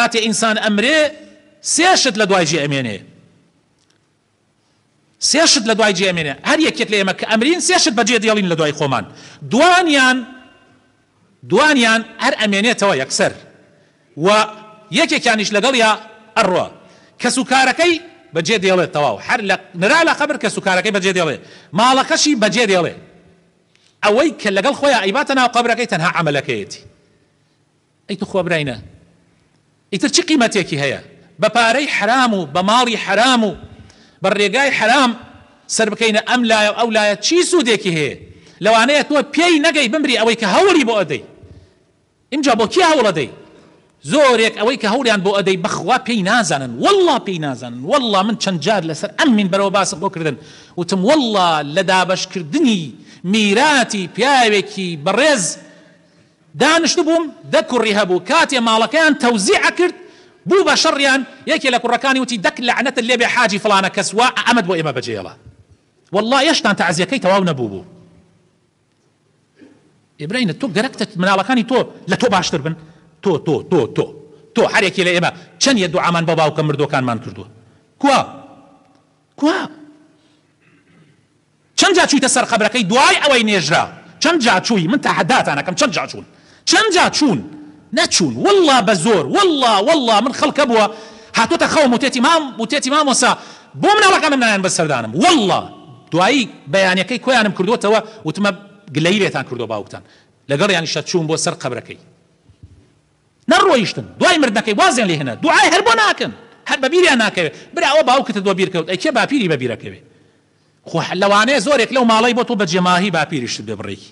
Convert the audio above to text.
کاتێ ئینسان ئەمرێ سێ شت لە دوای جێ ئەمێنێ سێ شت لە دوای جێ ئەمێنێ هەر یەکێک لە ئێمە کە ئەمرین سێ شت بەجێ دێڵین لە دوای خۆمان دوانیان دوانیان هەر ئەمێنێتەوە یەکسەر و یەکێکیانیش لەگەڵ یا ئەڕۆ کەس و کارەکەی بەجێ دێڵێت تەواو هەر لە نرا لە قەبر کەس و کارەکەی بەجێ دێڵێ ماڵەکەشی بەجێ دێڵێ ئەوەی کە لەگەڵ خۆیان ئەیباتە ناو قەبرەکەی تەنها عملەکەیەتی ئەی توخوا براینە ئیتر چ قیمەتێکی هەیە بە پارەی حەرام و بە ماڵی حەرام و بە رێگای حەرام سەربکەینە ئەم لایەو ئەو لایە چی سودێکی هەیە لەوانەیە تۆ پێی نەگەی بمری ئەوەی کە هەوڵی بۆ ئەدەی ئینجا بۆ کێ هەوڵ ئەدەی زۆرێک ئەوەی کە هەوڵیان بۆ ئەدەی بەخوا پێی نازانن واللە پێی نازانن واللە من چەند جار لەسەر ئەم مینبەرەوە باسم بۆ کردن وتم واللە لە دابەشکردنی میراتی پیاوێکی بەڕێز دانشتبووم دە کوڕی هەبوو کاتێ ماڵەکەیان تەوزیع ئەکرد بوو بە شەڕیان یەکێ لە کوڕەکانی وتی دەک لەعنەتت لێ بێ حاجی فڵانە کەس وا ئەمەت بۆ ئێمە بەجێ هێڵا وەڵڵا ئێشتان تەعزیەکەی تەواو نەبووبوو ئیبرەینە تۆ گەرەکتە مناڵەکانی تۆ لە تۆ باشتر بن تۆ تۆ تۆ تۆ تۆ هەرێکی لە ئێمە چەند یە دوعامان بە باوکە مردوەکانمان کردووە کوا کوا؟ چەند جا چویتە سەر قەبرەکەی دوای ئەوەی نێژرا؟ چەند جا چوی؟ من تەحەداتان ئەکەم چەند جا چون؟ چەند جا چون؟ نەچون واللە بە زۆر واللە واللە من خەڵک هەبووە هاتۆتە خەوم وتێتی مام وتێتی مامۆسا بۆ مناڵەکانم نایەن بەس سەردانم واللە دوایی بەیانەکەی کۆیانم کردۆتەوە وتمە گلەیی لێتان کردوە باوکتان لەگەڵیانیشە چوم بۆ سەر قەبرەکەی نەڕۆیشتن دوای مردنەکەی وازیان لێ هێنا دوعای هەر بۆ ناکەن هەر بە بیریان ناکەوێ برا ئەوە باوکتت بۆ بیر کەوت ئەی کێ باپیری بە بیر ئەکەوێ خۆ لەوانەیە زۆرێک لەو ماڵەی بۆ تۆ بە جێماهی باپیریشت بێ بڕێکی